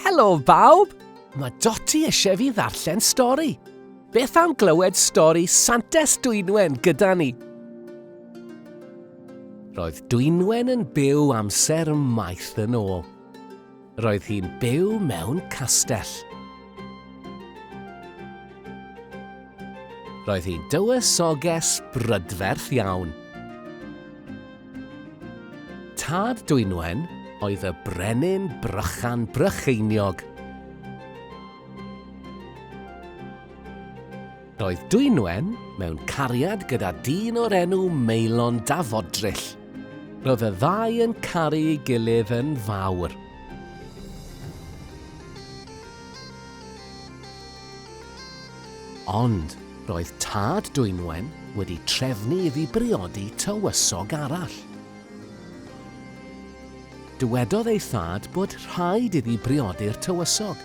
Helo bawb! Mae Doti eisiau fi ddarllen stori. Beth am glywed stori Santes Dwynwen gyda ni? Roedd Dwynwen yn byw amser maith yn ôl. Roedd hi'n byw mewn castell. Roedd hi'n dywysoges brydferth iawn. Tad Dwynwen oedd y brenin Brychan Brycheiniog. Roedd Dwynwen mewn cariad gyda dyn o'r enw Maelon Dafodryll. Roedd y ddau yn caru ei gilydd yn fawr. Ond roedd tad Dwynwen wedi trefnu iddi briodi tywysog arall. Dywedodd ei thad bod rhaid iddi briodi'r tywysog.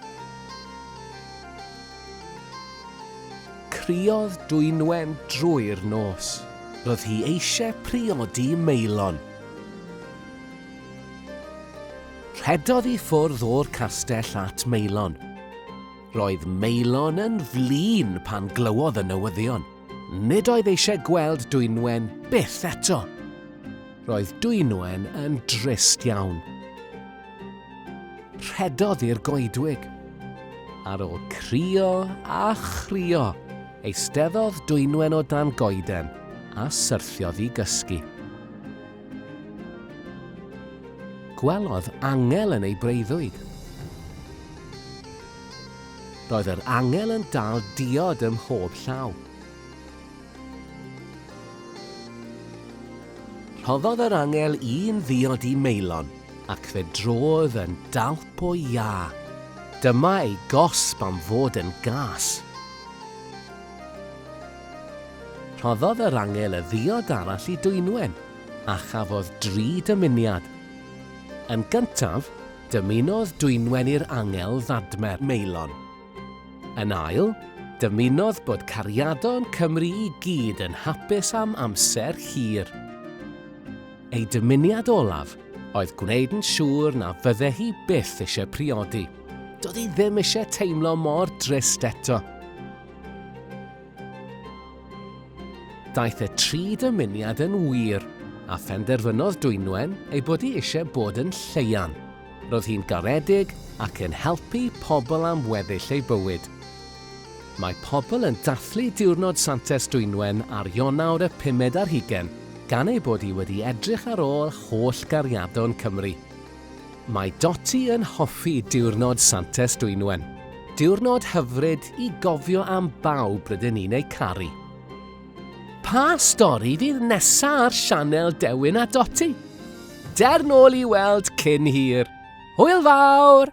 Criodd Dwynwen drwy'r nos. Roedd hi eisiau priodi Meilon. Rhedodd i ffwrdd o'r castell at Meilon. Roedd Maelon yn flin pan glywodd y newyddion. Nid oedd eisiau gweld Dwynwen byth eto. Roedd Dwynwen yn drist iawn. Rhedodd i'r goedwig. Ar ôl crio a chrio, eisteddodd Dwynwen o dan goeden a syrthiodd i gysgu. Gwelodd angel yn ei breuddwyd. Roedd yr angel yn dal diod ym mhob llaw. Rhoddodd yr angel un ddiod i Meilon ac fe drodd yn dalp o iâ. Dyma ei gosb am fod yn gas. Rhoddodd yr angel y ddiod arall i Dwynwen, a chafodd dri dymuniad. Yn gyntaf, dymunodd Dwynwen i'r angel ddadmer Meilon. Yn ail, dymunodd bod cariadon Cymru i gyd yn hapus am amser hir. Ei dymuniad olaf oedd gwneud yn siŵr na fydde hi byth eisiau priodi. Doedd hi ddim eisiau teimlo mor drist eto. Daeth y tri dymuniad yn wir, a phenderfynodd Dwynwen ei bod hi eisiau bod yn Lleuan. Roedd hi'n garedig ac yn helpu pobl am weddill ei bywyd. Mae pobl yn dathlu Diwrnod Santes Dwynwen ar Ionawr y pumed ar hugain gan ei bod hi wedi edrych ar ôl holl gariadon Cymru. Mae Dotty yn hoffi diwrnod Santes Dwynwen. Diwrnod hyfryd i gofio am bawb rydyn ni'n eu caru. Pa stori fydd nesa ar sianel Dewin a Dotty? Der nôl i weld cyn hir. Hwyl fawr!